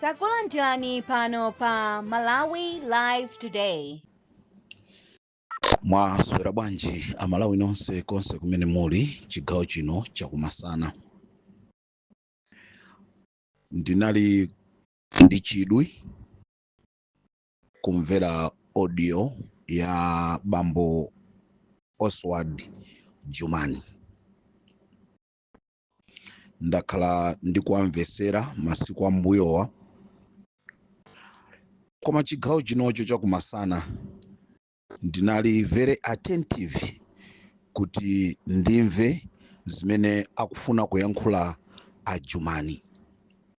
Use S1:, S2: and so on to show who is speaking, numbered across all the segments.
S1: Takulandirani pano pa Malawi Live Today.
S2: Mwaswera bwanji amalawi nonse konse kumene muli chigawo chino chakumasana. Ndinali ndi chidwi kumvera audio ya bambo Oswald Jumani. ndakhala ndikuwamvetsera masiku ambuyowa koma chigawo chinocho chakumasana ndinali very attentive kuti ndimve zimene akufuna kuyankhula ajumani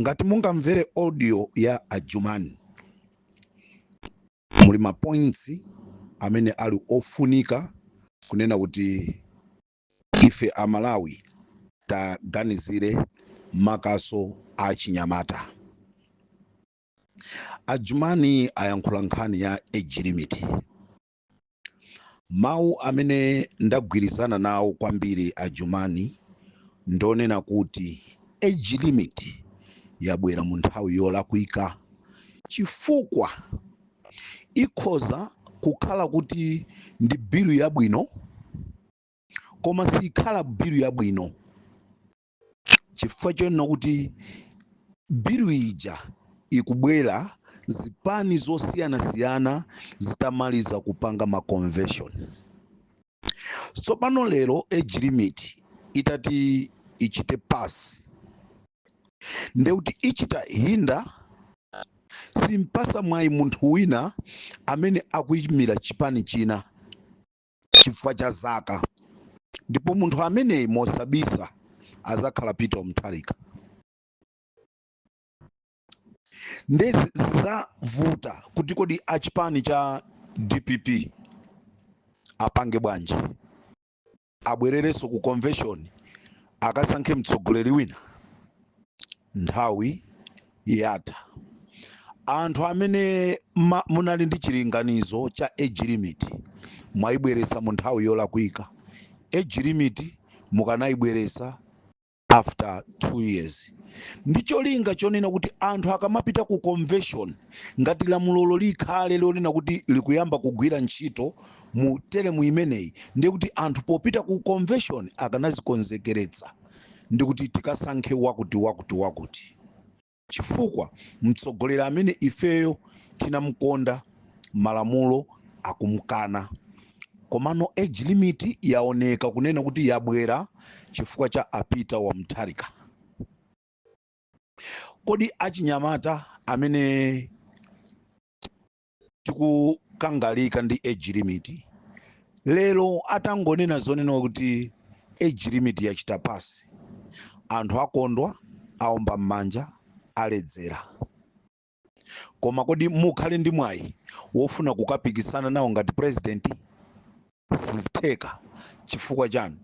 S2: ngati mungamvere audio ya ajumani muli mapoints amene ali ofunika kunena kuti ife amalawi tiganizire makaso a chinyamata ajumani ayankhula nkhani ya age limit Mawu amene ndagwirizana nawo kwambiri a Jumani ndi onena kuti age limit yabwera mu nthawi yolakwika chifukwa ikhoza kukhala kuti ndi bilu yabwino koma sikhala bilu yabwino. chifukwa chonena kuti bilu ija ikubwera zipani zosiyanasiyana zitamaliza kupanga ma convention so pano lero age limit itati ichite pass nde kuti ichita hinder simpasa mwayi munthu wina amene akuyimira chipani china chifukwa cha zaka ndipo munthu ameneyi mosabisa azakhala peter mutharika nde zi- zizavuta kuti kodi achipani cha dpp apange bwanji abwererenso ku convention akasankhe mtsogoleri wina nthawi yatha anthu amene ma, munali ndi chilinganizo cha age limit mwayibweresa mu nthawi yolakwika age limit mukanayibweresa after two years ndi cholinga chonena kuti anthu akamapita ku convention ngati lamulolo likhale lonena kuti likuyamba kugwira ntchito mu teremu imeneyi ndiye kuti anthu popita ku convention akanazikonzekeretsa ndi kuti tikasankhe wakuti wakuti wakuti chifukwa mtsogoleri amene ifeyo tinamkonda malamulo akumkana komano age limit yaoneka kunena kuti yabwera chifukwa cha a Peter wa Mutharika kodi achinyamata amene tikukangalika ndi age limit lero atangonena zonena kuti age limit yachita pass anthu akondwa aomba m'manja aledzera koma kodi mukhale ndi mwayi wofuna kukapikisana nawo ngati president sizitheka chifukwa chani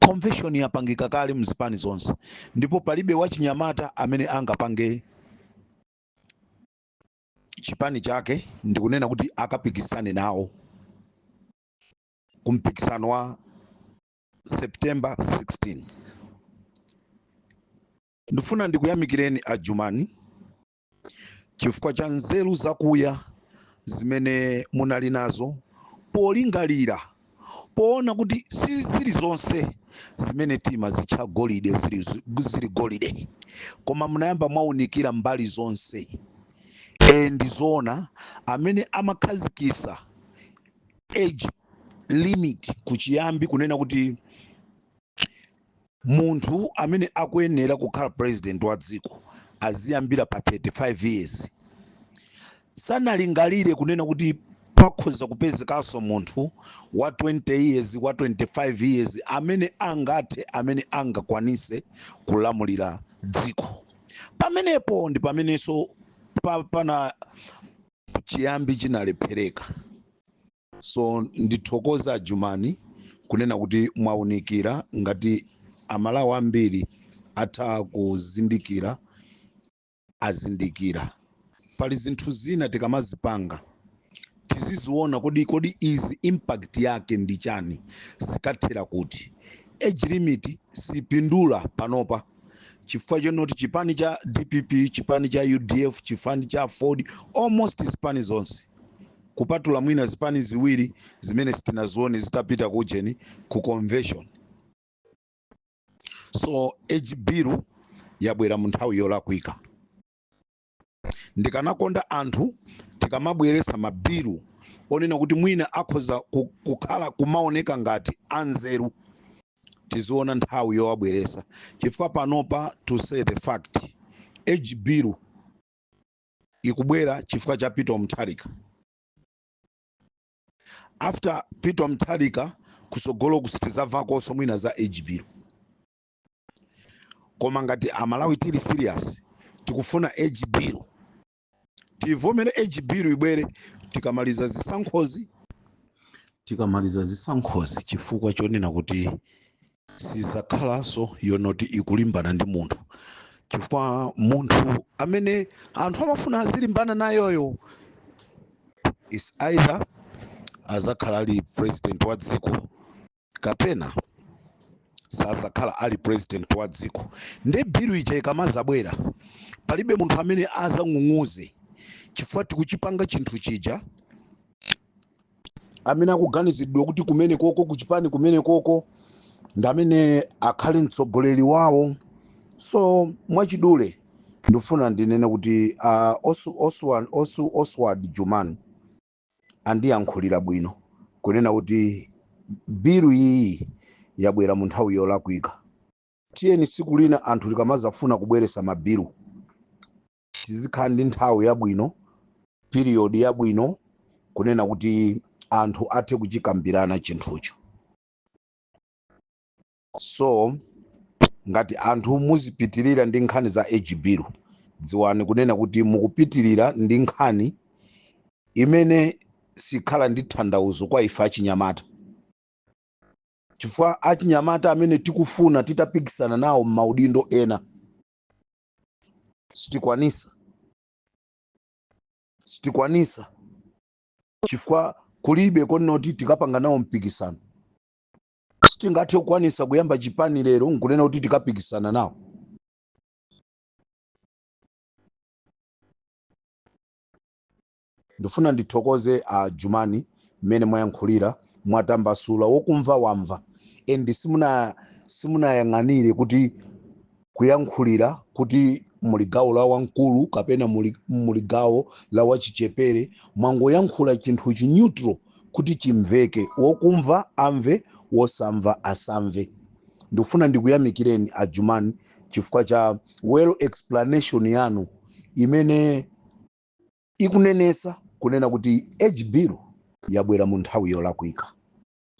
S2: convention yapangika kale mzipani zonse ndipo palibe wachinyamata amene angapange chipani chake ndikunena kuti akapikisane nawo ku mpikisano wa September 16. Ndifuna ndikuyamikireni a Jumani chifukwa cha nzeru zakuya zimene munali nazo polingalira poona kuti si zili zonse zimene timazitcha golide zili, zi- zili golide koma munayamba mwaunikira mbali zonse e ndizoona amene amakhazikisa age limit kuchiyambi kunena kuti Munthu amene akuyenera kukhala president wa dziko aziyambira pa 35 years. Sanalingalire kunena kuti pakhoza kupezekaso munthu wa 20 years, wa 25 years amene angathe, amene angakwanise kulamulira dziko. Pamenepo ndi pameneso pa, pana chiyambi chinalephereka. so ndithokoze ajumani kunena kuti mwaunikira ngati amalawi ambiri atha kuzindikira azindikira pali zinthu zina tikamazipanga tiziziona kodi kodi izi impact yake ndi chani zikathera kuti age limit sipindula panopa chifukwa chonoti chipani cha dpp chipani cha udf chipani cha aford almost zipani zonse kupatula mwina zipani ziwiri zimene sitinazione zitapita kujeni ku convention so age bill yabwera mu nthawi yolakwika ndikanakonda anthu tikamabweresa mabilu onena kuti mwina akhoza ku- kukhala kumaoneka ngati anzeru tiziona nthawi yowabweresa chifukwa panopa to say the fact age bill ikubwera chifukwa cha peter mutharika after peter mutharika kusogolo kusi sitizavakonso mwina za age bill koma ngati amalawi tili serious tikufuna age bill tivomere age bill ibwere tikamaliza zisankhozi tikamaliza zisankhozi chifukwa chonena kuti sizakhalanso yonoti ikulimbana ndi munthu chifukwa munthu amene anthu amafuna azilimbana nayoyo is either azakhala ali president wa dziko kapena sazakhala ali president wa dziko nde bilu ija ikamazabwera palibe munthu amene azang'ung'uze chifukwa tikuchipanga chinthu chija amene akuganiziridwa kuti kumene koko kuchipani kumene koko ndi amene akhale mtsogoleri wawo so mwachidule ndifuna ndinene kuti uh, osu, oswald, osu, oswald jumani andiyankhulira bwino kunena kuti bilu iyi yabwera mu nthawi yolakwika tiyeni siku lina anthu tikamazafuna kubweresa mabilu tizikhala ndi nthawi yabwino period yabwino kunena kuti anthu athe kuchikambirana chinthucho so ngati anthu muzipitirira ndi nkhani za age bill dziwani kunena kuti mukupitirira ndi nkhani imene sikhala ndi tanthauzo kwa ife achinyamata chifukwa achinyamata amene tikufuna titapikisana nawo m'maudindo ena sitikwanisa sitikwanisa chifukwa kulibe konena kuti tikapanga nawo mpikisano sitingathe kukwanisa kuyamba chipani lero nkunena kuti tikapikisana nawo Ndifuna ndithokoze a Jumani mmene mwayankhulira mwatambasula wokumva wamva and simuna simunayang'anire kuti kuyankhulira kuti muli gawo la wamkulu kapena muli, muli gawo la wachichepere mwangoyankhula chinthu chi neutral kuti chimveke wokumva amve wosamva asamve ndikufuna ndikuyamikireni a Jumani chifukwa cha well explanation yanu imene ikunenesa kunena kuti age bill yabwera mu nthawi yolakwika